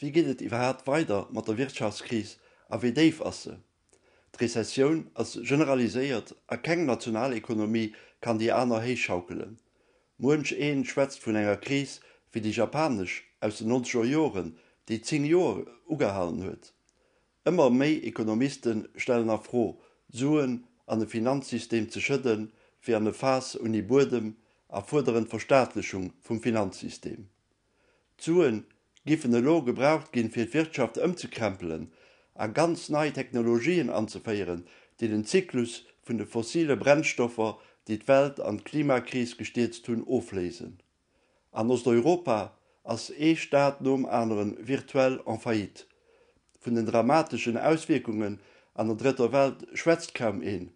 Wéi geet et iwwerhaapt weider mat der Wirtschaftskris a wéi déif ass se? D'Rezessioun ass generaliséiert a keng national Ekonomie kann déi aner héich schaukelen. Muench ee schwätzt vun enger Kris wéi déi japanesch aus den nonzeger Joren, déi zéng Joer ugehalen huet. Ëmmer méi Ekonomiste stellen a Fro, d'Suen an e Finanzsystem ze schëdden, wéi an e Faass ouni Buedem a fuerderen d'Verstaatlechung vum Finanzsystem. D'Sue giffen elo gebraucht ginn, fir d'Wirtschaft ëmzekrämpelen a ganz nei Technologien anzeféieren, déi den Zyklus vun de fossile Brennstoffer, déi d'Welt an d'Klimakris gestierzt hunn, ofléisen. An Osteuropa ass ee Staat nom aneren virtuell en faillite. Vun den dramateschen Auswierkungen an der Drëtter Welt schwätzt kaum een.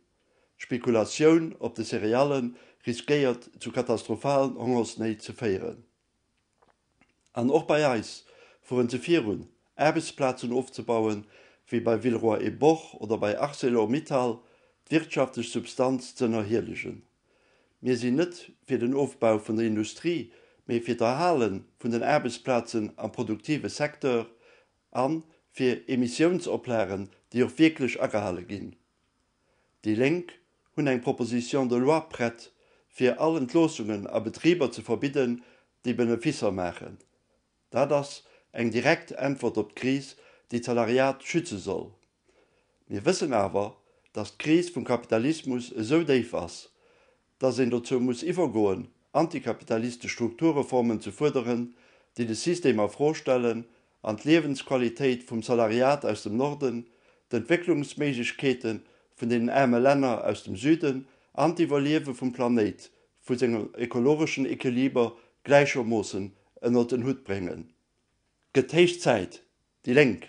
D'Spekulatioun op de Céréallen riskéiert zu katastrophalen Hongersnéit ze féieren. An och bei eis fueren se virun, Aarbechtsplazen ofzebauen, wéi bei Villeroy et Boch oder bei Arcelor Mittal, d'wirtschaftlech Substanz z'ënnerhielegen. Mir sinn net fir den Ofbau vun der Industrie, mee fir d'Erhale vun den Aarbechtsplazen am produktive Secteur a fir Emissiounsoplagen, déi och wierklech agehale ginn. Déi Lénk hunn eng Proposition de loi prett, fir all Entloossungen a Betriber ze verbidden, déi Beneficer maachen. Dat ass eng direkt Äntwert op d'Kris, déi d'Salariat schütze soll. Mir wëssen awer, datt d'Kris vum Kapitalismus esou déif ass, datt een dozou muss iwwergoen, antikapitalistesch Strukturreformen ze fuerderen, déi de System a Fro stellen an d'Liewensqualitéit vum Salariat aus dem Norden, d'Entwécklungsméiglechkeete vun deenen aarme Länner aus dem Süden an d'Iwwerliewe vum Planéit vu sengem ekologeschen Equiliber gläichermoossen ënnert en Hutt bréngen. Gëtt héich Zäit! déi lénk.